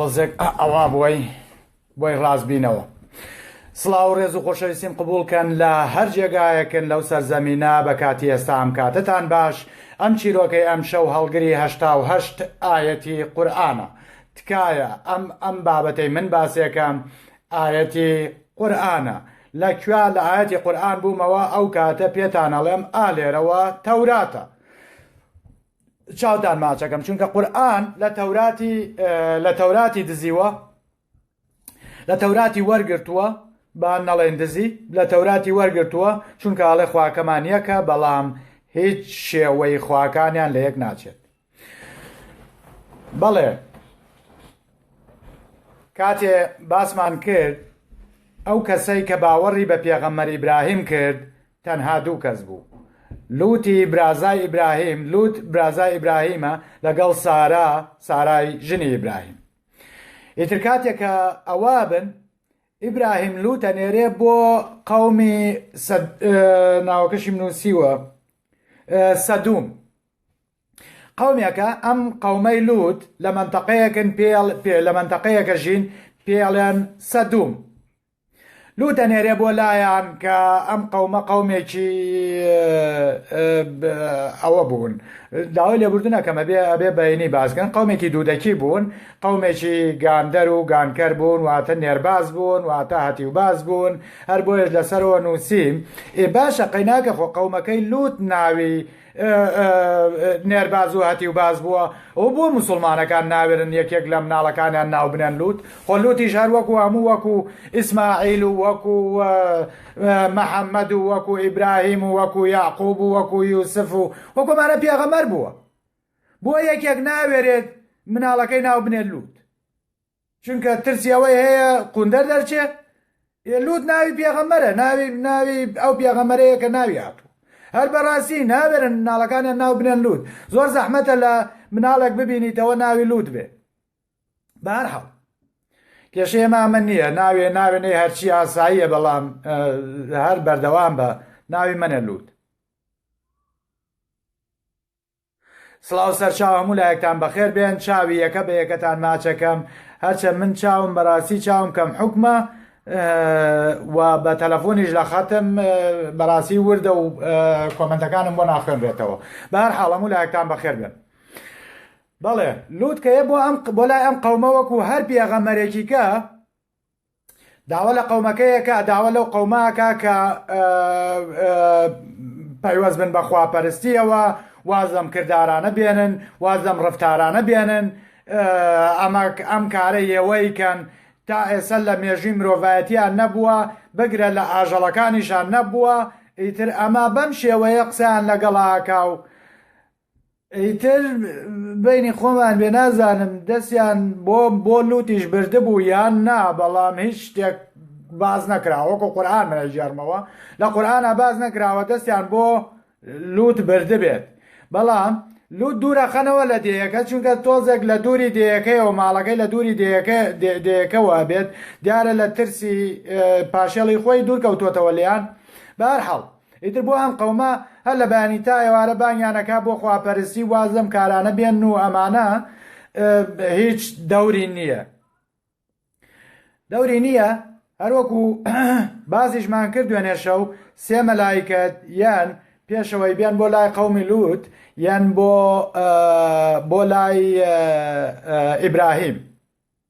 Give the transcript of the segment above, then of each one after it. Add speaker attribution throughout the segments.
Speaker 1: تۆزێک ئەوا بۆی بۆی ڕاست بینەوە. سڵاو ڕێز و خۆشەویستیم قبولکەن لە هەر جێگایەکن لەو سەرزەمینە بە کاتی ئێستا ئەم کاتتان باش ئەم چیرۆکەی ئەم شەو هەڵگری هەشتا و هەشت ئاەتی قورآانە تکایە ئەم ئەم بابەتەی من باسێکەم ئاەتی قورآانە لە کوێ لە ئاەتی قورآان بوومەوە ئەو کاتە پێتانەڵێم ئالێرەوە تەوراتە. چاوتان ماچەکەم چونکە قورئان لە تەوراتی لە تەوراتی دزیوە لە تەوراتی وەرگرتووە با نەڵێن دزی لە تەوراتی وەرگرتووە چونکە ئاڵێ خواکەمان یەکە بەڵام هیچ شێوەی خواکانیان لە یەک ناچێت بەڵێ کاتێ باسمان کرد ئەو کەسەی کە باوەڕی بە پێغەمەری براهیم کرد تەنها دوو کەس بوو لوتی برازای ئیبراهیم لوت برازای ئیبراهیمە لەگەڵ سارا سارای ژنی ئیبراهیم ئیتر کاتێکە ئەوە بن ئیبراهیم لوتە نێرێ بۆ قومی ناوەکەشی نووسیوە سەدوم قومێکە ئەم قومەی لوت لە منتەقەیەکن پێڵ پێ لە منتەقەیەکە ژین پێڵێن سەدوم لوو دەنێرێ بۆ لایان کە ئەم قەومە قەومێکی ئەوە بوون داوای لێبوردنە کەمە بێ ئەبێ بەینی باسگەن قەومێکی دوودەکی بوون قەومێکی گاندەر و گانکەر بوون واتە نێرباز بوون واتە هەتیو باز بوون هەر بۆیش لەسەرەوە نووسیم ئێ باشە قەیناکە خۆ قەومەکەی لووت ناوی نێرباز و هەتیوباز بووە و بۆ موسڵمانەکان ناوێرن یەکێک لە مناڵەکانیان ناو بنێن لوت خۆ لوتیش هەر وەکو هەموو وەکو ئیسماعیل و وەکو محەممەد و وەکو ئیبراهیم و وەکو یاقوب و وەکو یوسف و وەکۆمانە پێغەمەر بووە بۆ یەکێک ناوێرێت مناڵەکەی ناو بنێت لوت چونکە ترسی ئەوەی هەیە قوندەر دەرچێ ئێ لوت ناوی پێغەمبەرە ناوی ناوی ئەو پێغەمبەرەیە کە ناوی هاتوو هەر بەڕاستی ناوێرن مناڵەکانیان ناو بنێن لوت زۆر زەحمەتە لە مناڵێک ببینیتەوە ناوی لوت بێ بەهەر حاڵ کێشەیە مامە نییە ناوێ ناوێنەی هەرچی ئاساییە بەڵام هەر بەردەوام بە ناوی منە لوت سڵاو سەرچاو هەموو لایەکتان بەخێر بێن چاوی یەکە بە یەکەتان ماچەکەم هەرچە من چاوم بەڕاستی چاوم کەم حکمە و بە تەلەفۆنیش لە خەتم بەڕاستی وردە و کۆمنتەکانم بۆ ناخوێنرێتەوە بەهر حاڵەم و لایەکتان بەخێر بێن بەڵێ لوتکەیە بۆ ئەم بۆ لای ئەم قەومە وەکو هەر پێغەمەرێکیکە داوا لە قەومەکە یەکە داوا لەو قەوماکە کە پەیوەست بن بە خواپەرستیەوە واز لەم کردارانە بێنن واز لەم ڕفتارانە بێنن ئەمە ئەم کارە یەوەی کەن تا ئێستا لە مێژوی مرۆڤایەتیان نەبووە بگرە لە ئاژەڵەکانیشان نەبووە ئیتر ئەمە بەم شێوەیە قسەیان لەگەڵاکا و ئیتر بەینی خۆمان بێ نازانم دەستیان بۆ بۆ لوتیش بردبوو یان نا بەڵام هیچ شتێک باز نەکراوە وەکو قورآن منە ژێرمەوە لە قورآە باز نەکراوە دەستیان بۆ لوت بردبێت بەڵام لوت دوورەخەنەوە لە دێیەکە چونکە تۆزێک لە دووری دێیەکەیەوە ماڵەکەی لە دووری دێیەکە دێیەکەوە بێت دیارە لە ترسی پاشێڵی خۆی دوورکەوتوتەوە لیان بارحاڵ ئیتر بۆ ئەم قەومە هەر لە بەیانی تا ئێوارە بانگیان ئەکا بۆ خواپەرستی واز لەم کارانە بێن و ئەمانە هیچ دەوری نییە دەوری نییە هەروەکو بازیشمان کرد دوێنێشە و سێ مەلایکەت یان پێشەوەی بێن بۆ لای قومی لوت یان بۆ بۆ لای ئیبراهیم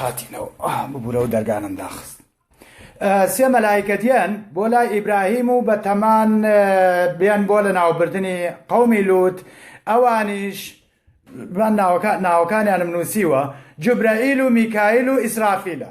Speaker 1: هاتینەوە ببوورەوە دەرگانم داخست سێ مەلایکەتیان بۆ لای ئیبراهیم و بە تەمان بیان بۆ لە ناوبردننی قومی لوت ئەوانیش ناوەکانیانم نووسیوە جوبرائیل و میکایل و ئیسرافیلە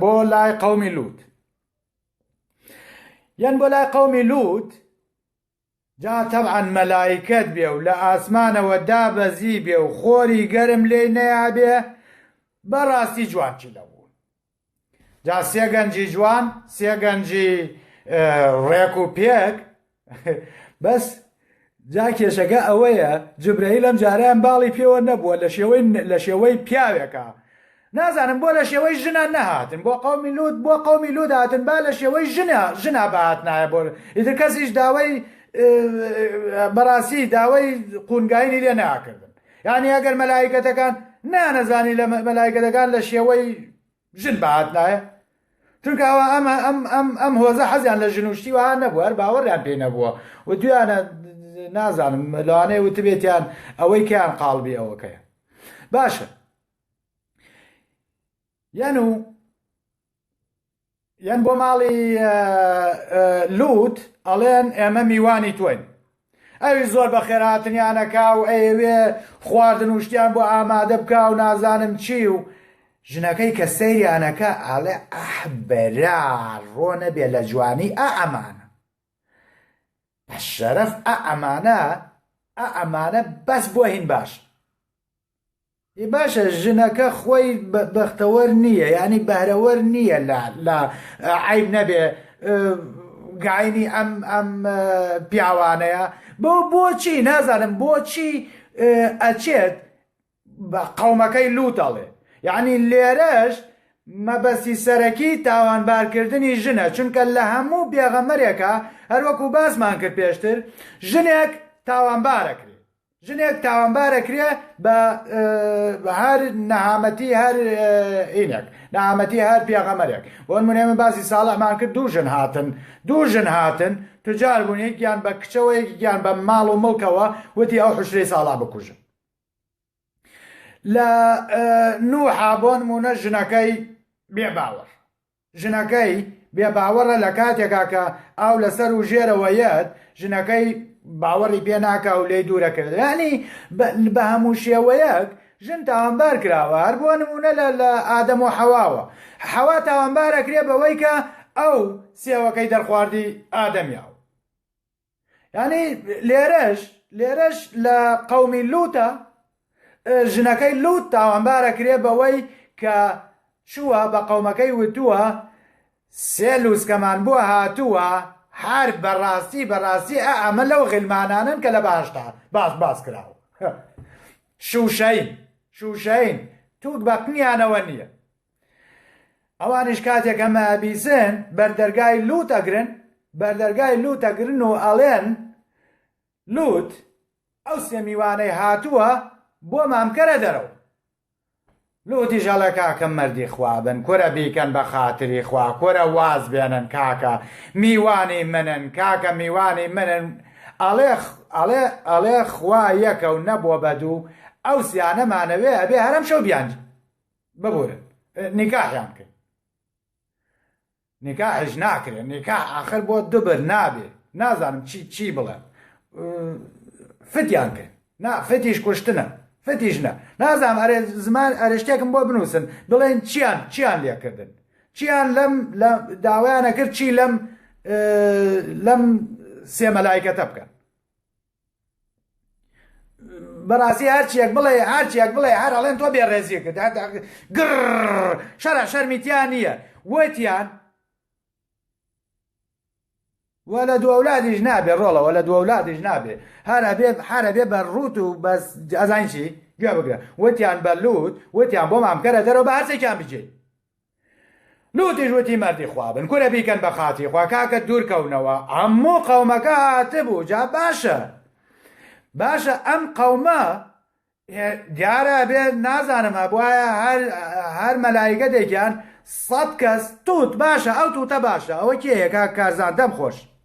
Speaker 1: بۆ لای قومی لوت یان بۆ لای قومی لوت جا تەعاان مەلایکت بێ و لە ئاسمانەوە دابەزی بێ و خۆری گەرم لێ نەیابێ بەڕاستی جوانچی لە بوون جا سێگەنجی جوان سێگەنجی ڕێک و پێک بەس جا کێشەکە ئەوەیە جبرەیل ئەم جاریان باڵی پێوە نەبووە لە شێوەی لە شێوەی پیاوێکە نازانم بۆ لە شێوەی ژنە نەهاتن بۆ قومی لوت بۆ قومی لوت هاتن با لە شێوەی ژنە ژنا بەهات نایە بۆ ئیتر کەسیش داوای بەڕاستی داوای قونگاینی لێ ناکردن یعنی ئەگەر مەلایکەتەکان نانەزانی لە مەلایکەتەکان لە شێوەی ژن بەهات نایە چونکە ئەوە ئەمە ئەم ئەم ئەم هۆزە حەزیان لە ژن و شتی وان نەبوو هەر باوەڕیان پێ نەبووە و دویانە نازانم لەوانەیە وتبێتیان ئەوەی کەیان قاڵبی ئەوەکەیە باشە یان و یان بۆ ماڵی لوت ئەڵێن ئێمە میوانی توین ئەویش زۆر بەخێر هاتنیان ئەکا و ئەیەوێ خواردن و شتیان بۆ ئامادە بکا و نازانم چی و ژنەکەی کە سەیریان ئەکا ئەڵێ ئەح برا ڕۆ نەبێ لە جوانی ئە ئەمانە بە شەرەف ئە ئەمانە ئە ئەمانە بەس بۆ هین باشن. ئی باشە ژنەکە خۆی بەختەوەر نییە یعنی بەهرەوەر نییە لە لە عیب نەبێ گاینی ئەم ئەم پیاوانەیە بۆ بۆچی نازانم بۆچی ئەچێت بە قەومەکەی لوتەڵێ یعنی لێرەش مەبەستی سەرەکی تاوانبارکردنی ژنە چونکە لە هەموو بێغەمەرێکە هەروەکو باسمان کرد پێشتر ژنێک تاوانبارەکرێت ژنێک تاوانبار ئەکرێ بە هەر نەهامەتی هەر ئینێک نامەتی هەر پێغەمەرێک بۆن منێ من باسی ساڵحمان کرد دوو ژن هاتن دوو ژن هاتن تجار بوون یەکیان بە کچەوە یەکیان بە ماڵ و مڵکەوە وتی ئەو حشرەی ساڵا بکوژن لە نوحا بۆن مونە ژنەکەی بێ باوەڕ ژنەکەی بێ باوەڕە لە کاتێکا کە ئاو لە سەر و ژێرەوە یەت ژنەکەی باوەڕی پێ ناکا و لێی دوورە کەوێت یانی بە هەموو شێوەیەک ژن تاوانبار کراوە هەر بۆ نمونە لە لە ئادەم و حەواوە حەوا تاوانبارەکرێ بەوەی کە ئەو سێوەکەی دەرخواردی ئادەمیاو ینی لێرەش لێرەش لە قومی لوتە ژنەکەی لوت تاوانبارە کرێ بەوەی کە چووە بە قومەکەی وتووە سێ لوسکەمان بووە هاتووە هەر بەڕاستی بەڕاستی ئەمە لەو غلمانانن کە لە باشدا باش باس کراوە شوشین شوشین توک بەقنیانەوە نییە ئەوانیش کاتێک ئەمە ئەبیسن بەردەرگای لوت ئەگرن بەردەرگای لوت ئەگرن و ئەڵێن لوت ئەو سێ میوانەی هاتووە بۆمان بکەرە دەرەوە لوتیش ئەڵێ کاکە مەردی خوابن کورە بیکەن بە خاتری خوا کورە واز بێنن کاکە میوانی منن کاکە میوانی منن ئەڵێ ئەڵێ ئەڵێ خوا یەکە و نەبووە بە دوو ئەو سیانەمانەوێ ئەبێ هەرەم شەو بیانجی ببورن نیکاحیان بکەین نیکاحش ناکرێت نیکاح ئاخر بۆ دوبر نابێ نازانم چی چی بڵێن فتیان کرد نا فتیش کوشتنە فتیش نە نازانم ئەرێ زمان ئەرشتێکم بۆ بنووسن بڵێن چیان چیان لێکردن چیان لەم لە داوایانە کرد چی لەم لەم سێمەلایکەتە بکەن بەڕاستی هەرچیەک بڵێ هەرچیەک بڵێ هەر ئەڵێن تۆ بێ ڕێزیە کرد گڕ شەرە شەرمیتیان نییە وتیان وە لە دوولادیش نابێ ڕۆڵەوە لە دوولادیش نابێ هەرە بێ حرە بێ بە ڕوت و بەس ئەزانشی گوێ بگرە وتیان بە لووت وتیان بۆ مامکەرە دەرەوە بە هەرسێکیان بجێت لوتیش وتی مەردی خوا بن کورە بیکەن بە خاتری خوا کاکە دوورکەونەوە ئەموو قەومەکە هاتبوو جا باشە باشە ئەم قەومە دیارە بێ نازانم هەبواە هەر مەلایگە دەگیان سەد کەس توت باشە ئەو توتە باشە ئەوە کێیەکە کارزان دەم خۆش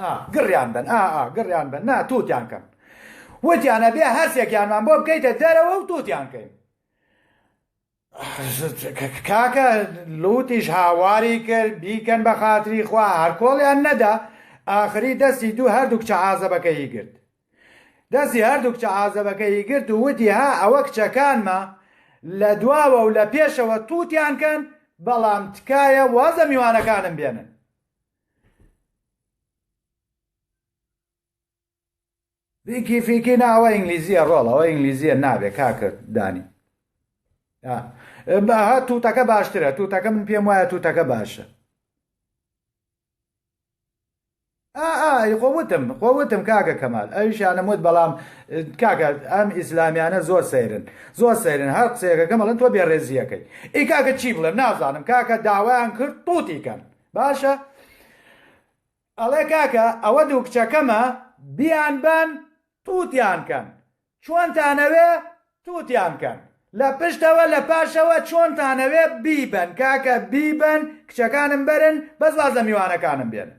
Speaker 1: ئا گڕیان بەن ئا ئا گڕیان بەن نا تووتیان کەن وتیان ئەبێ هەرسێکیانمان بۆ بکەیتە دەرەوە و تووتیان کەین کاکە لوتیش هاواری کرد بیکەن بە خاتری خوا هەرکۆڵیان نەدا ئاخری دەستی دوو هەردوو کچە عازەبەکەی گرت دەستی هەردوو کچە عازەبەکەی گرت و وتی ها ئەوە کچەکانمە لە دواوە و لە پێشەوە تووتیان کەن بەڵام تکایە وازە میوانەکانم بێنن فیکی فیکی نا ئەوە ئینگلیزیە ڕۆڵ ئەوە ئینگلیزیە نابێ کاکرد دانی بەها تووتەکە باشترە تووتەکە من پێم وایە تووتەکە باشە خۆوتم خۆوتم کاکە کەمال ئەویشانم وت بەڵام کاکە ئەم ئیسلامیانە زۆر سەیرن زۆر سەیرن هەر قسەیەکەکە مەڵن تۆ بێڕێزیەکەی ئی کاکە چی بڵێ نازانم کاکە داوایان کرد تووتیکەن باشە ئەڵێ کاکە ئەوە دوو کچەکەمە بیان بەن تووتیان کەن چۆنتانەوێ تووتیان کەن لە پشتەوە لە پاشەوە چۆنتانەوێ بیبن کاکە بیبن کچەکانم بەرن بەس واز لە میوانەکانم بێن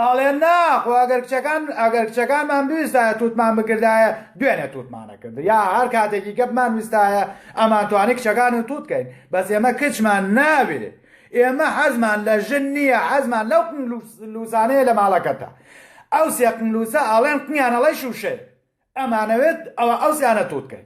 Speaker 1: ئەڵێ نا خۆ ئەگەر کچەکان ئەگەر کچەکانمان بویستایە توتمان بکردایە دوێنێ توتمانە کرد یا هەر کاتێکی گەپمان ویستایە ئەمان توانی کچەکان و توت کەین بەس ئێمە کچمان ناوێ ئێمە حەزمان لە ژن نییە حەزمان لەو لوسانەیە لە ماڵەکەتە ئەو سێقنلوسە ئاڵێن قنیانەڵی شوشێ ئەمانەوێت ئەوە ئەوسیانە توتکەین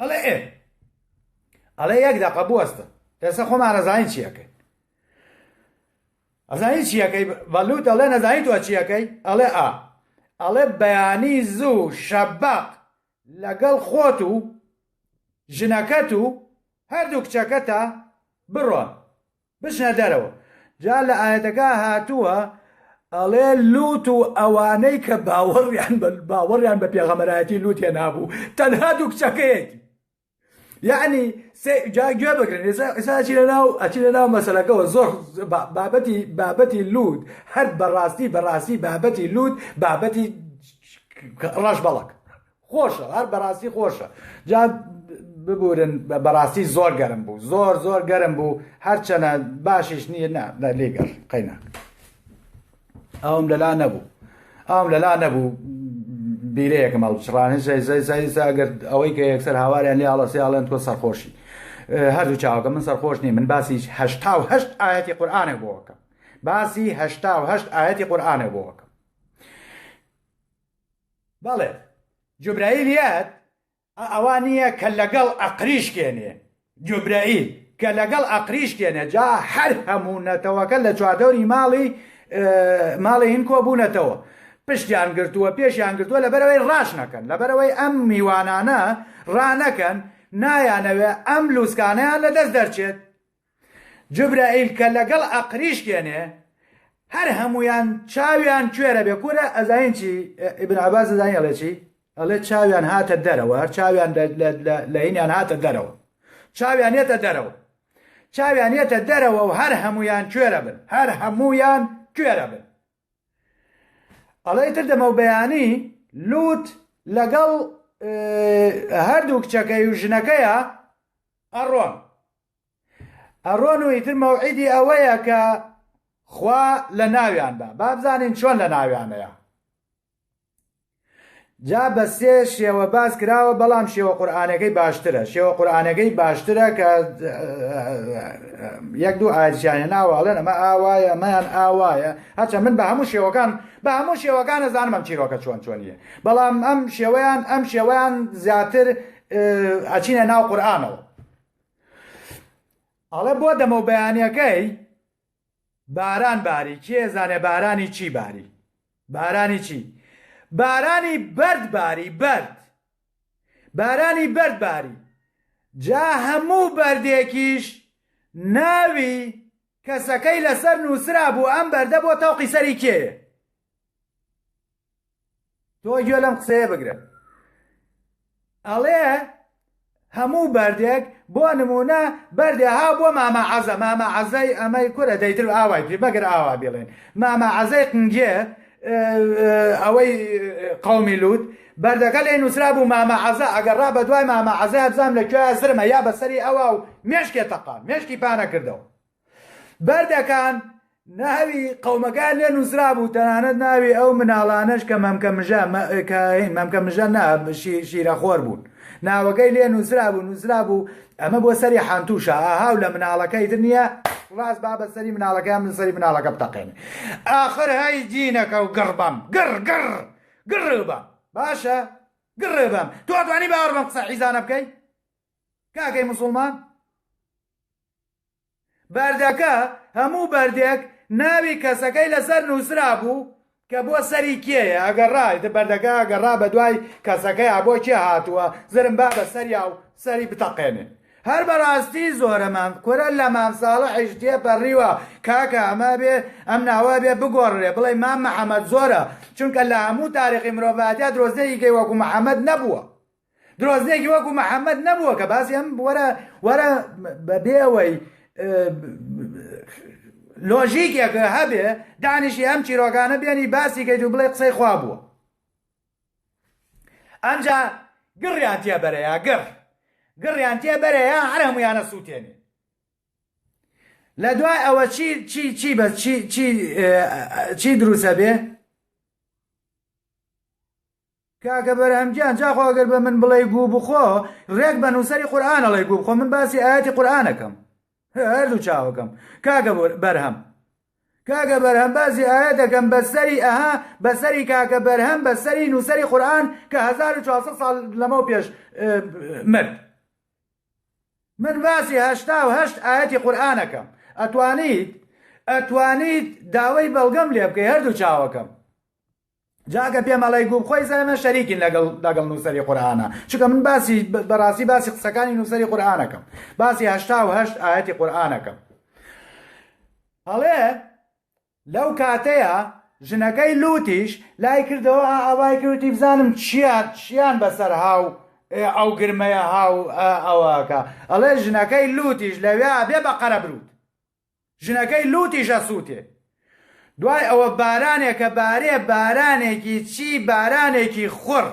Speaker 1: ئەڵێ ئێ ئەڵێ یەک دەقە بوەستە ئێستا خۆمان ڕزانین چیەکەی ئەزانین چیەکەی بەلووت ئەڵێ نەزانیت وە چیەکەی ئەڵێ ئا ئەڵێ بەیانی زوو شەبق لەگەڵ خۆت و ژنەکەت و هەردوو کچەکەتە بڕۆن بچنە دەرەوە جا لە ئایەتەکە هاتووە ئەڵێ لوت و ئەوانەی کە باوەڕیان باوەڕیان بە پێغەمەرایەتی لوت هێنابوو تەنها دوو کچەکەیەتی یعنی جاگوێ بگرن ئێساچی لەناو ئەچی لەناو مەسلەکەەوە زۆر بابەتی بابەتی لوت هەر بەڕاستی بەڕاستی بابەتی لوت بابەتی ڕەش بەڵک خۆشە هەر بەراستی خۆشە جا ببورن بەراستی زۆر گەرم بوو زۆر زۆر گەرم بوو هەرچەنە باشیش نییە نا لێگەر قەینا ئەوم لەلا نەبوو ئەوم لەلا نەبوو بیرەیەکم هەڵبچڕانێ زەگەر ئەوەی کە یەکسەر هاواریان لێ هەڵەسیاڵێن تۆ سەرخۆشی هەردوو چاوەکە من سەرخۆش نیە من باسی هشتا و هەشت ئاەتی قورآانێ بۆکەم باسی هشتا و هەشت ئاەتی قورآانێ بۆکەم بەڵێ جوبرەیل یەت ئەوا نییە کە لەگەڵ ئەقریش کێنێ جوبرەیل کە لەگەڵ ئەقریش کێنێ جا هەر هەموو نەتەوەکە لە چواردەوری ماڵی ماڵی هین کۆ بوونەتەوە پشتیان گرتووە پێشیان گرتووە لەبەرەوەی ڕاش نەکەن لەبەرەوەی ئەم میوانانە ڕانەکەن نایانەوێ ئەم لووسکانیان لەدەست دەرچێت جبرائیل کە لەگەڵ ئەقریشکێنێ هەر هەموویان چاویان کوێرە بێ کورە ئەزانین چی ئیبن عباس ئەزانین ئەڵێ چی ئەڵێ چاویان هاتە دەرەوە هەر چاویان لە هینیان هاتە دەرەوە چاویان یەتە دەرەوە چاویان یەتە دەرەوە و هەر هەمویان کوێرە بن هەر هەمویان کوێرە بن ئەڵێ تر دەمە و بەیانی لوت لەگەڵ هەردوو کچەکەی و ژنەکەیە ئەڕۆن ئەڕۆن و ئیتر مەوعیدی ئەوەیە کە خوا لە ناویان بە بابزانین چۆن لە ناویانەیە جا بە سێ شێوە باس کراوە بەڵام شێوە قورآانەکەی باشترە شێوە قورآانەکەی باشترە کە یەک دوو ئاچیانە ناواڵێن ئەمە ئاوایە مەیان ئاوایە هەچە من بە هەموو شێوەکان بە هەموو شێوەکان نەزانم ئەم چیرۆکە چۆن چۆنیە بەڵام ئەم شێوەیان ئەم شێوەیان زیاتر ئەچینە ناو قورآانەوە ئەڵێ بۆ دەمە و بەیانەکەی باران باری کێ زانێ بارانی چی باری بارانی چی بارانی بەرد باری بەرد بارانی بەرد باری جا هەموو بەردێکیش ناوی کەسەکەی لەسەر نووسرا بوو ئەم بەردە بۆ تەوقی سەری کێ تۆ گوێ لەم قسەیە بگرە ئەڵێ هەموو بەردێک بۆ نمونە بەردێ ها بۆ مامە عەزە مامە عەزای ئەمەی کورە دەیتر ئاوای پێ بەگەر ئاوا بڵێن مامە عەزای قنگێ ئەوەی قومی لووت بەردەکە لێ نووسرا بوو مامە عەزە ئەگەر ڕا بە دوای مامە عەزە بزانام لە کوێ زرمە یا بەسەری ئەوە و مێشکێ تەقا مێشکی پانە کردەوە بەردەکان ناوی قەومەکان لێ نووسرابوو تەنانەت ناوی ئەو مناڵانەش کە مەمکە مژە مەمکە مژە نا شیرەخۆر بوون ناوەکەی لێ نووسرا بوو نووسرا بوو ئەمە بۆ سەری حانتوشە ئاهاو لە مناڵەکەی تر نییە ڕاست بابە سەری مناڵەکەیان من سەری مناڵەکە بتەقێن ئاخر هەی جینەکە و گڕبم گڕ گڕ گڕ بە باشە گڕێ بەم تۆ توانی باوەڕ بەم قسە حیزانە بکەیت کاکەی موسڵمان بەردەکە هەموو بەردێک ناوی کەسەکەی لەسەر نووسرا بوو کە بۆ سەری کێیە ئەگەر ڕایت بەردەکە ئەگەر ڕا بە دوای کەسەکەی بۆ کێ هاتووە زرم با بە سەریا و سەری بتەقێنێ هەر بەڕاستی زۆرەمان کورە لە مام ساڵحیش تێپەڕیوە کاکە ئەمە بێ ئەم ناوە بێ بگۆڕێ بڵێ مام محەممەد زۆرە چونکە لە هەموو تاریخی مرۆڤاتیا درۆزنێکی گەی وەکو محەممەد نەبووە درۆزنێکی وەکو محەممەد نەبووە کە باسی ئەم وەرە وەرە بەبێ ئەوەی لۆژیکێک هەبێ دانیشی ئەم چیرۆگانە بێنی باسی کەیت و بڵێ قسەی خوا بووە ئەمجا گڕیان تێ بەرەیە گڕ گڕیان تێ بەرەیە هەر هەمویانە سووتێنێ لە دوای ئەوە چی چی چی بە چی چی دروسە بێ کاکە بەرهەم گیان جاخۆ ئەگەر بە من بڵێی گوو بخۆ ڕێک بە نووسەری قورئان ئەڵێ گوو بخۆ من باسی ئایەتی قورئانەکەم هەردوو چاوەکەم کاکە بەرهەم کاکە بەرهەم باسی ئایەت دەکەم بە سەری ئەها بە سەری کاکە بەرهەم بە سەری نووسەری قورئان کە 1400 ساڵ لەمەو پێش مرد من باسی هەشتا و هەشت ئاەتی قورآانەکەم ئەتوانیت ئەتوانیت داوای بەڵگەم لێ بکەی هەردوو چاوەکەم جا ئەگە پێم ئەڵێی گووبخۆی زای من شەریکین لەگەڵ لەگەڵ نووسەری قورئانە چونکە من باسی بەڕاستی باسی قسەکانی نووسەری قورئانەکەم باسی هەشتا و هەشت ئاەتی قورئانەکەم هەڵێ لەو کاتەیە ژنەکەی لوتیش لای کردەوە ئاوای کردی بزانم چیان چیان بەسەر هاو ئەو گرمەیە هاو ئەوەکە ئەڵێ ژنەکەی لوتیش لەوێ بێ بە قەرە بروت ژنەکەی لووتیش ئەسووتێ. دوای ئەوە بارانێکە بارێ بارانێکی چی بارانێکی خوڕ.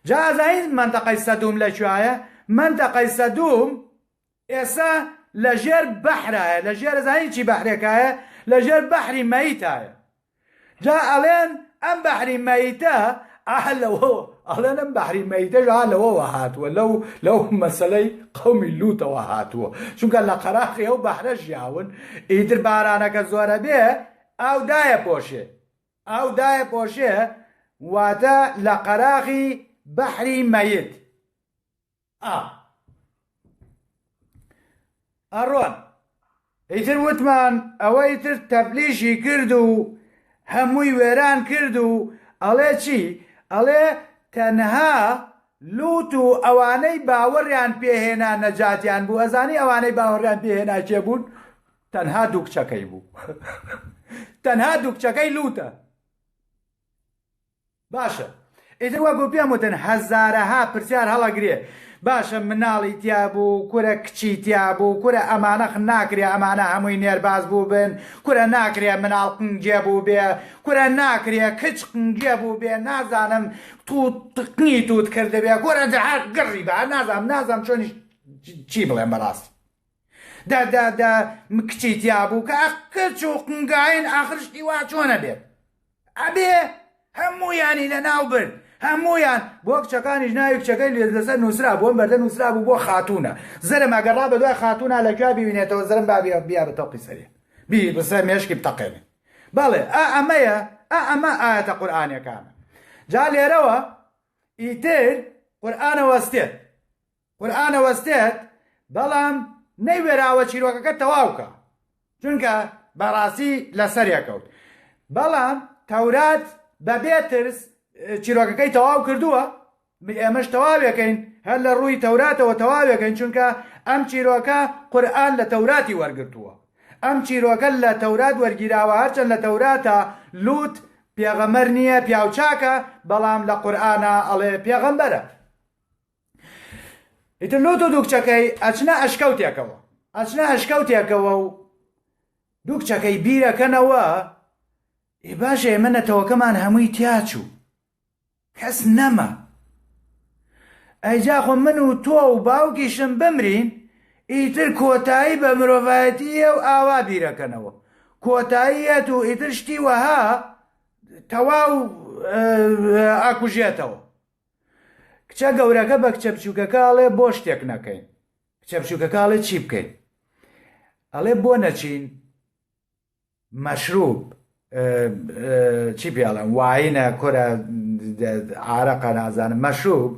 Speaker 1: جا ئەزانیت مەنتەقەی سەدووم لە کوێایە؟ مەنتەقەی سەدووم ئێستا لە ژێر بەحرایە، لە ژێر ئەزانیت چی بەحرێکایە؟ لە ژێر بەحری مەیتایە. جا ئەڵێن ئەم بەحری مەیتە ئا لەوەوە ئەڵێن ئەم بەحری مەیتەش ئا لەوەوە هاتووە لەو لەو مەسلەی قەومی لوتەوە هاتووە چونکە لە قەراخی ئەو بەحرە ژیاون ئیتر بارانەکە زۆرە بێ ئاو دایە پۆشێ ئاو دایە پۆشێ واتە لە قەراغی بەحری مەیت ئا ئەڕۆن ئیتر وتمان ئەوەی تر تەبلیشی کرد و هەمووی وێران کرد و ئەڵێ چی ئەڵێ تەنها لوت و ئەوانەی باوەڕیان پێهێنا نەجاتیان بوو ئەزانی ئەوانەی باوەڕیان پێهێنا کێ بوون تەنها دوو کچەکەی بوو تەنها دوو کچەکەی لوتە باشە ئیتر وا بۆ پێم وتن هەزارەها پرسیار هەڵەگرێ باشە مناڵی تیابوو کورە کچی تیابوو کورە ئەمانەخ ناکرێ ئەمانە هەمووی نێرباز بوو بن کورە ناکرێ مناڵ قنگێ بوو بێ کورە ناکرێ کچ قنگێ بوو بێ نازانم تو تقنی توت کردبێ کورە جەهات گڕی بە نازانم نازانم چۆنیش چی بڵێم بەڕاستی دا دا دا کچی تیابوو کە کچ و قنگاین ئاخر شتی وا چۆنە بێت ئەبێ هەموویانی لە ناو برد هەمویان بۆ کچەکانیش ناوی کچەکەی لێ لەسەر نووسرا بۆ بەردە نووسرا بوو بۆ خاتونە زرم ئەگەڕا بە دوای خاتونە لە کوێ ببینێتەوە زرم بابی بیا بە تەقی سەرێ بی بسە مێشکی بتەقێنێ بەڵێ ئا ئەمەیە ئا ئەمە ئاەتە قورآانەکانە جا لێرەوە ئیتر قورآانە وەستێت قورئان ئەوەستێت بەڵام نەیوێراوە چیرۆکەکە تەواوکا چونکە بەڕاستی لەسەرێکەوت بەڵام تەورات بەبێ ترس چیرۆکەکەی تەواو کردووە ئێمەش تەواوێکەین هەر لە ڕووی تەوراتەوە تەواوێکەین چونکە ئەم چیرۆکە قورآن لە تەوراتی وەرگتووە ئەم چیرۆکە لە تەورات وەرگیراوە هەرچەند لە تەوراتە لوت پێغەمەر نییە پیاوچاکە بەڵام لە قورآە ئەڵێ پێغەمبەرە ئیتر لۆ تۆ دووکچەکەی ئەچنە ئەشکەوتێکەوە ئەچنە ئەشکەوتێکەوە و دووکچەکەی بیرەکەنەوە ئێ باشە ئێمە نەتەوەکەمان هەمووی تیاچوو کەس نەما ئەیجاخۆ من و تۆ و باوکیشم بمرین ئیتر کۆتایی بە مرۆڤایەتیە و ئاوا بیرەکەنەوە کۆتاییەت و ئیتر شتی وەها تەواو ئاکوژێتەوە کچە گەورەکە بە کچە بچووکەکە ئەڵێ بۆ شتێک نەکەین کچە بچووکەکە ئەڵێ چی بکەین ئەڵێ بۆ نەچین مەشروب چی پێڵم واینە کورە عراقە نازانم مەشوب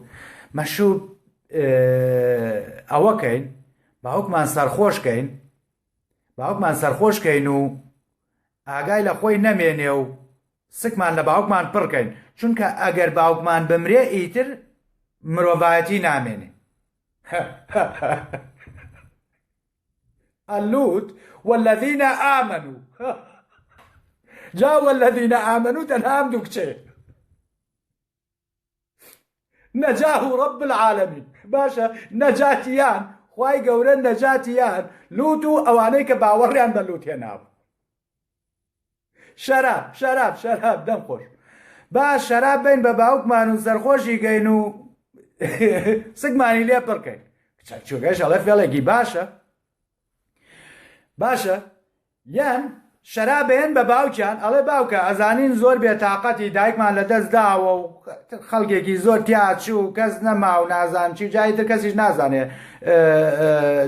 Speaker 1: مەشوب ئەوەکەین باوکمان سەرخۆشکەین باوکمان سەرخۆشکەین و ئاگای لە خۆی نەمێنێ و سکمان لە باوکمان پڕ کەین چونکە ئەگەر باوکمان بمرێ ئیتر مرۆڤایەتی نامێنێ اللوت والذین آمنوا جا والذین آمنوا تەنها ئەم دوو کچەیە نەجاه و ڕب العالمین باشە نەجاتیان خی گەورە نەجاتیان لوت و ئەوانەی کە باوەڕیان بە لوت هێنابوو شەراب شەراب شەراب دەم خۆش با شەراب بین بە باوکمان و سەرخۆشی گەین و سگمانی لێ پڕکەین چۆگەش ئەڵە فێڵێکی باشە باشە یان شەراب بەیەن بە باوکیان ئەڵێ باوکە ئەزانین زۆر بێ تااقەتی دایکمان لە دەست داوە و خەڵکێکی زۆر تیاچوو و کەس نەما و نازان چی جایی تر کەسیش نازانێ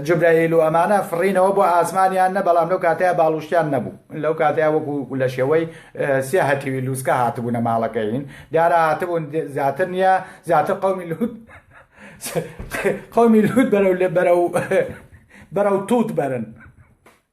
Speaker 1: جبرەیل و ئەمانە فڕینەوە بۆ ئاسمانیان نە بەڵام لەو کاتەیە باڵوشتیان نەبوو لەو کاتەیە وەکو لە شێوەی سێ هەتیوی لووسکە هاتبوونە ماڵەکەین دیارە هاتبوون زیاتر نییە زیاتر قومی لوت قومی لوت بەرەو لێ بەرە و بەرە و تووت بەرن.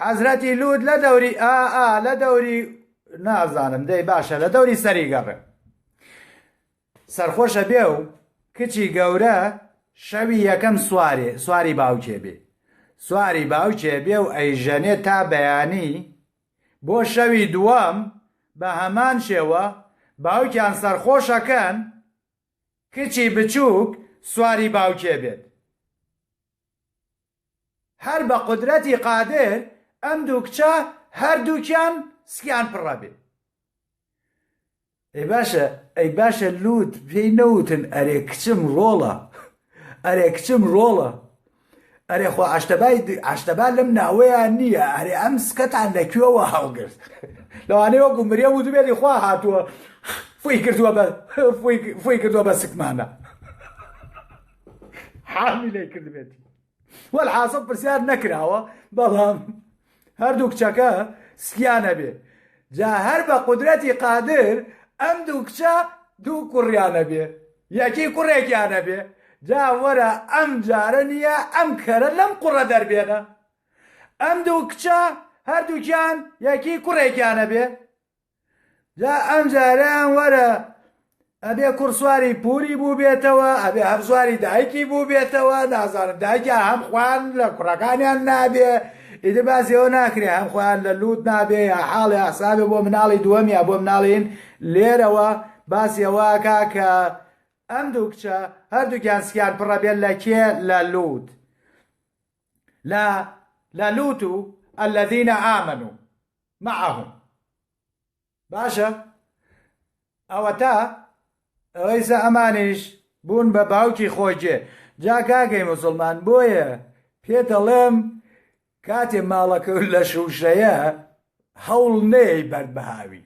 Speaker 1: حەزرەتی لوت لە دەوری ئا ئا لە دەوری نازانم دەی باشە لە دەوری سەری گەڕێن سەرخۆشە بێ و کچی گەورە شەوی یەکەم سوارێ سواری باوکێ بێ سواری باوکێ بێ و ئەیژەنێ تا بەیانی بۆ شەوی دووەم بە هەمان شێوە باوکیان سەرخۆشەکەن کچی بچووک سواری باوکێ بێت هەر بە قودرەتی قادر ئەم دوو کچە هەردووکیان سکیان پڕەبێ. ئەی باشە ئەی باشە لوت پێی نەوتن ئەرێ کچم ڕۆڵە ئەرێ کچم ڕۆڵە ئەرێ خۆ ئاشتەبای ئاشتەبا لەم ناوەیان نییە ئەرێ ئەم سکەتان لە کوێوە هەڵگرت لەوانەیە وەکو مرێ وتبێتی خوا هاتووە فوی کردووە بە فوی کردووە بە سکمانە حامی لێ کردبێتی وەل حاسە پرسیار نەکراوە بەڵام هەردوو کچەکە سکیانە بێ جا هەر بە قدرەتی قادر ئەم دوو کچە دوو کوڕیانە بێ یەکی کوڕێکیانە بێ جا وەرە ئەم جارە نییە ئەم کەرە لەم قوڕە دەربێنە ئەم دوو کچە هەردووکیان یەکی کوڕێکیانە بێ جا ئەم جارەیان وەرە ئەبێ کوڕ سواری پوری بووبێتەوە ئەبێ هەر سواری دایکی بووبێتەوە نازانم دایکە هەم خوان لە کوڕەکانیان نابێ ئیدە باسیەوە ناکرێ هەم خۆیان لە لووت نابێ یا حاڵێ حسابێ بۆ مناڵی دووەم یا بۆ مناڵین لێرەوە باسیەوەکە کە ئەم دوو کچە هەردووکیان سکیان پڕە بێت لە کێ لە لووت لە لە لووت و ئەلەدینە ئامن و معهم باشە ئەوەتا ئەوەیسە ئەمانیش بوون بە باوکی خۆجێ جا کاکەی مسلمان بۆیە پێ دەڵێم کاتێ ماڵەکە لە شوشەیە هەوڵ نەیەی بەرد بەهاوی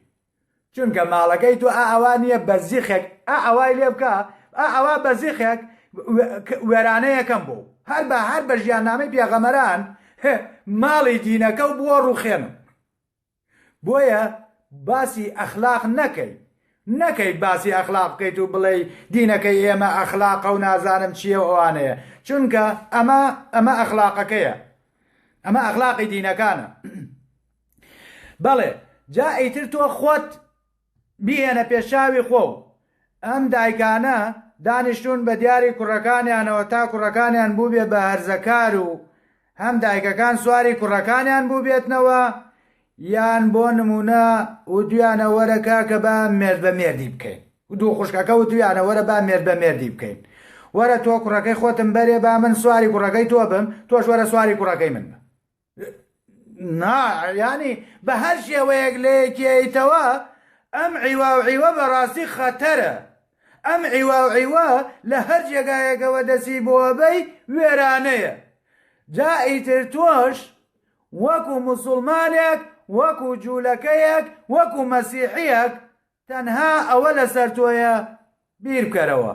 Speaker 1: چونکە ماڵەکەی تۆ ئا ئەوا نیە بەزیخێک ئا ئەوای لێ بکە ئا ئەوا بەزیخێک وێرانەیەکەم بۆ هەر بە هەر بە ژیاننامەی پێغەمەران ماڵی دینەکە و بووە ڕوخێنم بۆیە باسی ئەخلاق نەکەی نەکەی باسی ئەخلاق بکەیت و بڵێ دینەکەی ئێمە ئەخلاقە و نازانم چییە و ئەوانەیە چونکە ئەمە ئەمە ئەخلاقەکەیە ئەمە ئەخلاقی دینەکانە بەڵێ جا ئیتر تۆ خۆت بیهێنە پێشاوی خۆ و ئەم دایکانە دانیشتون بە دیاری کوڕەکانیانەوە تا کوڕەکانیان بووبێ بە هەرزەکار و هەم دایکەکان سواری کوڕەکانیان بووبێتنەوە یان بۆ نمونە و دویانە وەرە کاکە با مێرد بە مێردی بکەین دوو خوشکەکە و دویانە وەرە با مێرد بە مێردی بکەین وەرە تۆ کوڕەکەی خۆتم بەرێ با من سواری کوڕەکەی تۆ بم تۆش وەرە سواری کوڕەکەی من بە نا یانی بە هەر شێوەیەک لەیەکیتەوە ئەم عیواوعیوە بەڕاستی خەتەرە ئەم عیواوعیوە لە هەر جێگایەکەوە دەسی بۆبەی وێرانەیە جا ئیتر تۆش وەکو مسلمانێک وەکو جوولەکەیەک وەکو مەسیحیەک تەنها ئەوە لەسەر تۆیە بیر بکەرەوە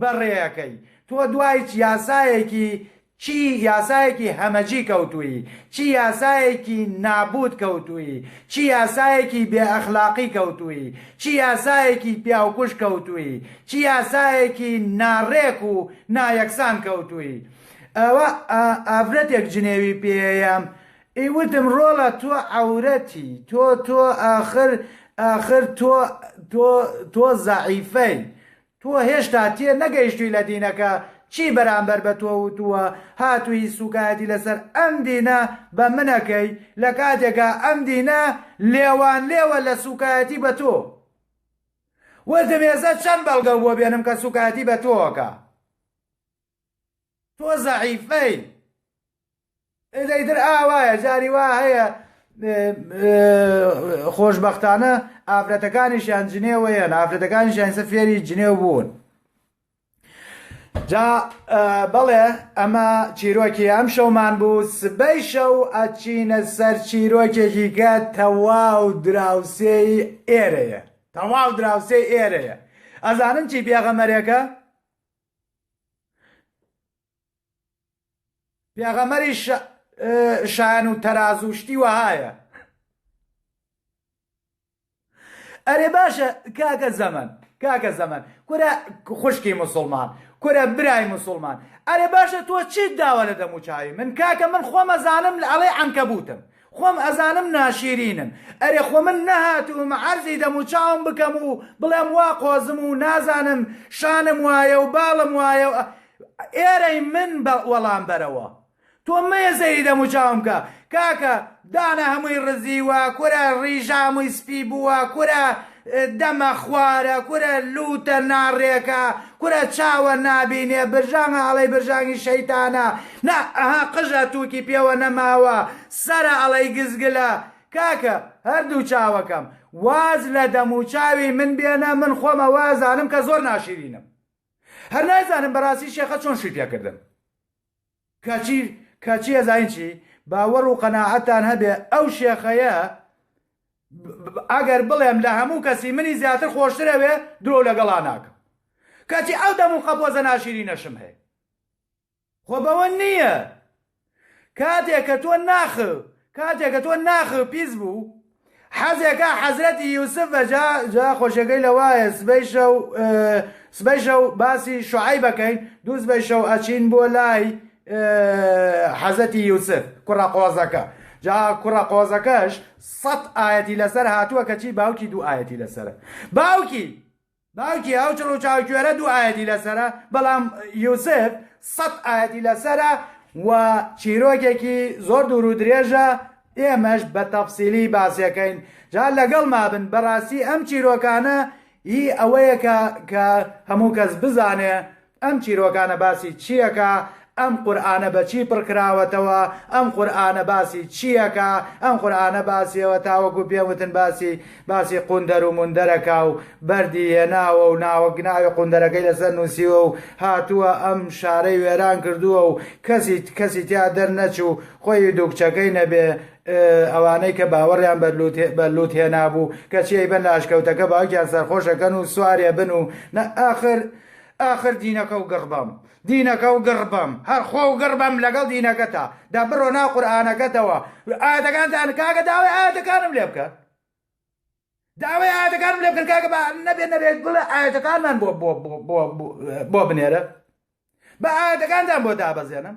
Speaker 1: بەڕێیەکەی تۆ دوای چ یاسایەکی چی یاسایەکی هەمەجی کەوتووی چی یاسایەکی نابووت کەوتووی چی یاسایەکی بێ ئەخلاقی کەوتووی چی یاسایەکی پیاوکوژ کەوتووی چی یاسایەکی ناڕێک و نایەکسان کەوتووی ئەوە ئا ئافرەتێک جنێوی پێیەم ی وتم ڕۆڵە تۆ عەورەتی تۆ تۆ ئاخر ئاخر تۆ تۆ تۆ زەعیفەی تۆ هێشتا تێ نەگەیشتوی لە دینەکە چی بەرامبەر بە تۆ وتووە هاتووی سوکایەتی لەسەر ئەم دینە بە من ئەکەی لە کاتێکا ئەم دینە لێوان لێوە لە سوکایەتی بە تۆ وتم ئێستا چەند بەڵگەو بۆ بێنم کە سوکایەتی بە تۆ ئەکا تۆ زەعیفەی ئێدەی تر ئاوایە جاری وا هەیە خۆشببختانە ئافرەتەکانیشیان جنێوەیەن ئافرەتەکانیشیان سە فێری جنێو بوون جا بەڵێ ئەمە چیرۆکی ئەم شەومان بوو سبەی شەو ئەچینە سەر چیرۆکێکی کە تەواو دراوسێی ئێرەیە تەواو دراوسێ ئێرەیە ئەزانن چی پێغەمەرێکە پێغەمەری شایەن و تەرازوو شتی وەهایە ئەرێ باشە کاکە زەمن کاکە زەمن کورە خوشکی مسلمان کورە برای مسلمان ئەرێ باشە تۆ چیت داوە لە دەموچاوی من کاکە من خۆمەزانم لە ئەڵێ ئەنکەبوتم خۆم ئەزانم ناشیرینم ئەرێ خۆ من نەهاتووم عەرزی دەموچاوم بکەم و بڵێم وا قۆزم و نازانم شانم وایە و باڵم وایە و ئێرەی من بە وەڵام بەرەوە تۆ مەیە سەیری دەموچاوم بکە کاکە دانە هەمووی ڕزیوە کورە ڕیژامووی سپی بووە کورە دەمە خوارە کورە لووتە ناڕێکە کورە چاوە نابینێ برژانگە ئەڵێی برژانگی شەیتانە نا ئەها قژە تووکی پێوە نەماوە سەرە ئەڵێی گزگلە کاکە هەردوو چاوەکەم واز لە دەم و چاوی من بێنە من خۆم ئەوە ئەزانم کە زۆر ناشیرینم هەر نازانم بەڕاستی شێخە چۆن شووی پێکردم. کەچی کەچی ئەزانین چی باوەڕ و قەناعەتان هەبێ ئەو شێخەیە ئەگەر بڵێم لە هەموو کەسی منی زیاتر خۆشتر ئەوێ درۆ لەگەڵا ناکەم کەچی ئەو دەم و قەپۆزە ناشیری نەشم هەیە خۆ بەوە نییە کاتێک کە تۆ ناخ کاتێ کە تۆ ناخ پیس بوو حەزێ کا حەزرەتی یوسف بە جا جا خۆشەکەی لە وایە سبەی شەو سبەی شەو باسی شعی بەکەین دوو سبەی شەو ئەچین بۆ لای حەزەتی یوسف کوڕە قۆزەکە جا کوڕە قۆزەکەش سەد ئاەتی لەسەر هاتووە کەچی باوکی دوو ئاەتی لەسرە باوکی باوکی ئەو چڕ و چاوکوێرە دوو ئاەتی لەسرە بەڵام یوسف سەد ئاەتی لەسرە و چیرۆکێکی زۆر دوور و درێژە ئێمەش بە تەفسیلی باسیەکەین جا لەگەڵ مابن بەڕاستی ئەم چیرۆکانە ئی ئەوەیەکە کە هەموو کەس بزانێ ئەم چیرۆکانە باسی چی ئەکا ئەم قورئانە بە چی پڕ کراوەتەوە ئەم قورئانە باسی چی ئەکا ئەم قورئانە باسی ئەوە تاوەکو پێم وتن باسی باسی قوندەر و موندەر ئەکا و بەردی هێناوە و ناوە ناوی قوندەرەکەی لەسەر نووسیوە و هاتووە ئەم شارەی وێران کردووە و کەسی کەسی تیا دەر نەچوو خۆی و دوو کچەکەی نەبێ ئەوانەی کە باوەڕیان بە لووت بە لووت هێنابوو کەچی ئەیبەن لە ئەشکەوتەکە باوکیان سەرخۆش ئەکەن و سوارێ بن و نە ئاخر ئاخر دینەکە و گڕ بەم دینەکە و گڕ بەم هەر خۆ و گڕ بەم لەگەڵ دینەکەتا دا بڕۆ ناو قورئانەکەتەوە ئایەتەکانتان کاکە داوای ئایەتەکانم لێ بکە داوای ئایەتەکانم لێ بکەن کاکە بە نەبێ نەبێت بڵێ ئایەتەکانمان بۆ بۆ بۆ بۆ بۆ بنێرە بە ئایەتەکانتان بۆ دابەزێنم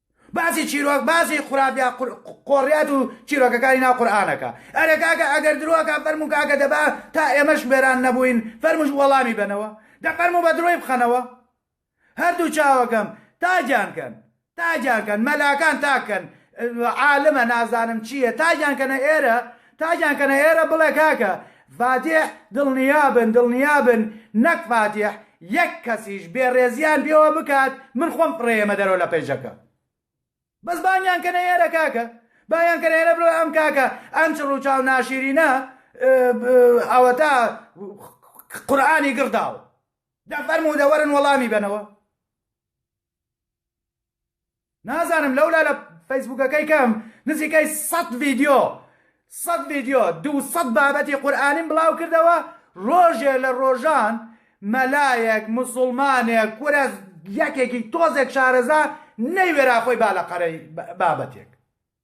Speaker 1: باسی چیرۆک باسی خورافیا قۆڕیات و چیرۆکەکانی ناو قورئانەکە ئەرێ کاکە ئەگەر درۆکە فەرموو کاکە دەبا تا ئێمەش بێران نەبووین فەرمووش وەڵامی بەنەوە دە فەرموو بە درۆی بخەنەوە هەردوو چاوەکەم تاجان کەن تاجان کەن مەلاکان تاک کەن عالمە نازانم چییە تاجان کەنە ئێرە تاجان کەنە ئێرە بڵێ کاکە فاتیح دڵنیابن دڵنیابن نەک فاتیح یەک کەسیش بێ ڕێزیان پێوە بکات من خۆم فڕێیەمە دەرەوە لە پەیجەکە بەس بانیان کەنە ئێرە کاکە بایان کەنە ئێرە بڵێ ئەم کاکە ئەم چڕ و چاو ناشیرینە ئەوەتا قورآانی گڕداوە دەفەرموو دەوەرن وەڵامی بنەوە نازانم لەولا لە فەیسبوکەکەی کەم نزیکەی سەد ڤیددیو سەد ڤیددیو دو سەد بابەتی قورآانیم بڵاو کردەوە ڕۆژێ لە ڕۆژان مەلایەک مسلمانێک کورە یەکێکی تۆزێک شارەزا نەیوێرا خۆی با لە قەرەی بابەتێک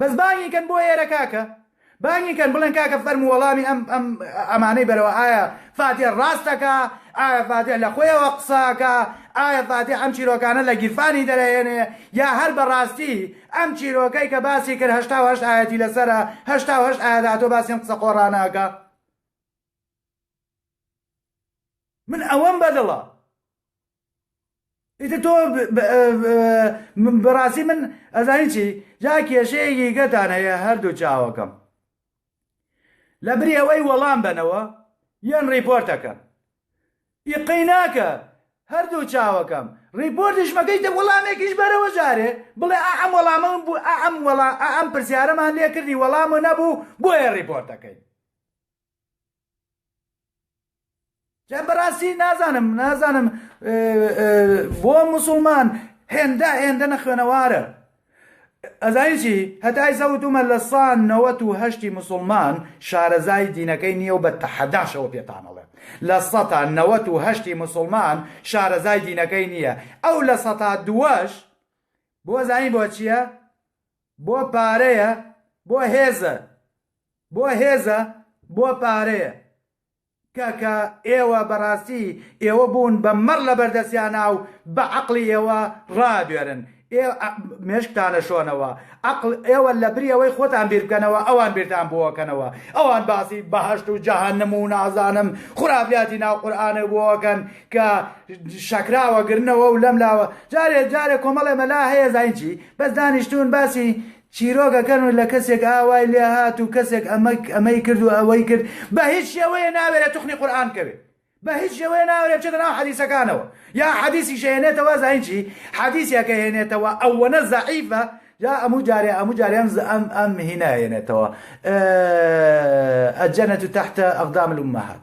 Speaker 1: بەس بانگی کەن بۆ ئێرە کاکە بانگی کەن بڵێن کاکە فەرموو وەڵامی ئەم ئەم ئەمانەی بەرەوە ئایا فاتێ ڕاستەکە ئایا فاتێ لە خۆیەوە قساکە ئایا فاتێ ئەم چیرۆکانە لە گیرفانی دەرەێنێ یا هەر بەڕاستی ئەم چیرۆکەی کە باسی کرد هەشتا هەشت ئاەتی لەسرە هەشتا هەشت ئاەداتۆ باسیم قسە قۆڕاناکە من ئەوەم بەدڵە ئیتر تۆ بەڕاستی من ئەزانی چی جا کێشەیەکی گەتان هەیە هەردوو چاوەکەم لە بری ئەوەی وەڵام بەنەوە یان ڕیپۆرتەکەن ئیقەی ناکە هەردوو چاوەکەم ڕیپۆرتش مەکەیتە وەڵامێکیش بەرەوە جارێ بڵێ ئەم وەڵامە من بوو ئەم وەڵا ئەم پرسیارەمان لێکردی وەڵامە نەبوو بۆیە ڕیپۆرتەکەی بەڕاستی نازانم نازانم بۆ مسلمان هێندە هێندە نەخوێنەوارە ئەزایچی هەتای زەوتومە لە سا نەوەت و هەشتی مسلمان شارەزای دینەکەی نییە و بە تەحەداشەوە پێتانەڵێ لە سەتا نەوەت و هەشتی مسلمان شارەزای دینەکەی نییە ئەو لە سەتا دووەش بۆ زانی بۆ چییە بۆ پارەیە بۆ هێزە بۆ هێزە بۆ پارەیە کاکە ئێوە بەڕاستی ئێوە بوون بە مەڕ لەبەر دەسیانا و بە عەقڵی ئێوە ڕابوێرن ئێوە مێشکتانە شۆنەوە عەقڵ ئێوە لە بری ئەوەی خۆتان بیر بکەنەوە ئەوان بیرتان بۆکەنەوە ئەوان باسی بەهەشت و جەهەنم و نازانم خورافیاتی ناو قورئانە بۆکەن کە شەکراوە گرنەوە و لەم لاوە جارێ جارێ کۆمەڵێ مەلا هەیە زاینچی بەس دانیشتون باسی چیرۆک ئەکەن و لە کەسێک ئا وای لێ هات و کەسێک ئەمەک ئەمەی کرد و ئەوەی کرد بە هیچ شێوەیێ ناوێرێ توخنی قورئان بکەوێ بە هیچ شێوەیێ ناوێرێ بچێتە ناو حەدیسەکانەوە یا حەدیسیش ئەهێنێتەوە زانی چی حەدیسێک ئەهێنێتەوە ئەوەنە زەعیفە جا ئەموو جارێ ئەموو جارێ ئەم ئەم ئەم هینا ئەهێنێتەوە ئە الجنە تحت اقدام الامهات.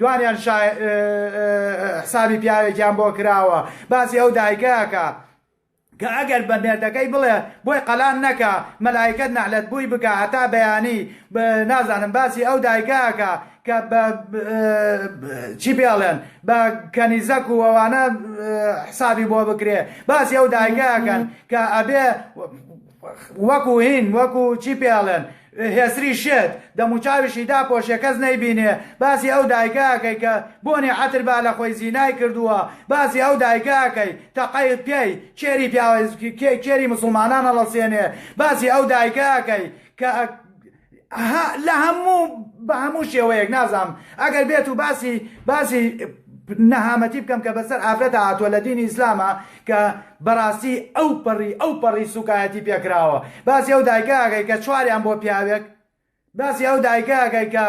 Speaker 1: دوانیان شا حسابی پیاوێکیان بۆ کراوە باسی ئەو دایکەکە کە ئەگەر بە مێردەکەی بڵێ بۆی قەلان نەکە مەلایکەت نەعلەت بووی بکە هەتا بەیانی نازانم باسی ئەو دایکەکە کە بە چی پێڵێن بە کەنیزەک و ئەوانە حسابی بۆ بکرێ باسی ئەو دایکەکەن کە ئەبێ وەکو هین وەکو چی پێ ئەڵێن هێسری شێت دەموچاویشی داپۆشێ کەس نەیبینێ باسی ئەو دایکە ئەکەی کە بۆنی عەتر با لە خۆی زینای کردووە باسی ئەو دایکە ئەکەی تەقەی پێی کێری پیاوە کێری موسڵمانان ئەڵەسێنێ باسی ئەو دایکە ئەکەی کە لە هەموو بە هەموو شێوەیەک نازام ئەگەر بێت و باسی باسی نەهامەتی بکەم کە بەسەر ئافرەتە هاتووە لە دینی ئیسلامە کە بەڕاستی ئەو پەڕی ئەو پەڕی سوکایەتی پێکراوە باسی ئەو دایکەکەی کە چواریان بۆ پیاوێک باسی ئەو دایکەکەی کە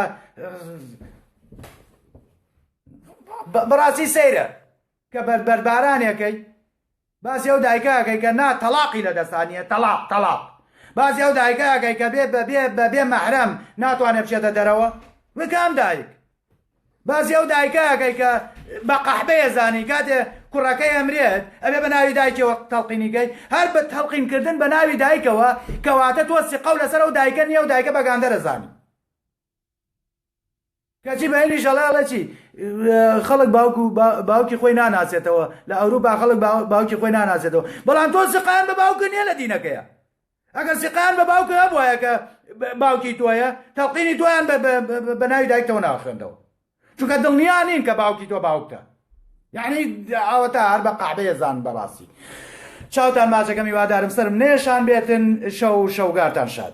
Speaker 1: بەڕاستی سەیرە کە بەر بەر باران یەکەی باسی ئەو دایکە ئەکەی کە نا تەڵاقی لە دەستا نییە تەڵاق تەڵاق باسی ئەو دایکە ئەکەی کە بێ بە بێ بە بێ مەحرەم ناتوانێت بچێتە دەرەوە وێ کام دایک باسی ئەو دایکە ئەکەی کە بە قەحبەیە زانی کاتێ کوڕەکەی ئەمرێت ئەبێ بە ناوی دایکەوە تەڵقینیگەی هەر بە تەڵقینکردن بە ناوی دایکەوە کەواتە تۆ سقە و لەسەر ئەو دایکە نییە و دایکە بەگاندەرە زانی کەچی بە هێنیش ئەڵێ ئەڵێ چی خەڵک باوک و باوکی خۆی ناناسێتەوە لە ئەوروپا خەڵک باوکی خۆی ناناسێتەوە بەڵام تۆ سقان بە باوکە نیە لە دینەکەیە ئەگەر سقان بە باوکە هەبواە کە باوکی تۆیە تەڵقینی تۆیان بە ناوی دایکتەوە ناخوێندەوە چونکە دڵنیا نین کە باوکی تۆ باوکتە یعنی ئاوەتا هەر بە قعبەیە زان بەڕاستی چاوتان ماچەکەمی وادارم سرم نێشان بێتن شەو شەوگارتان شاد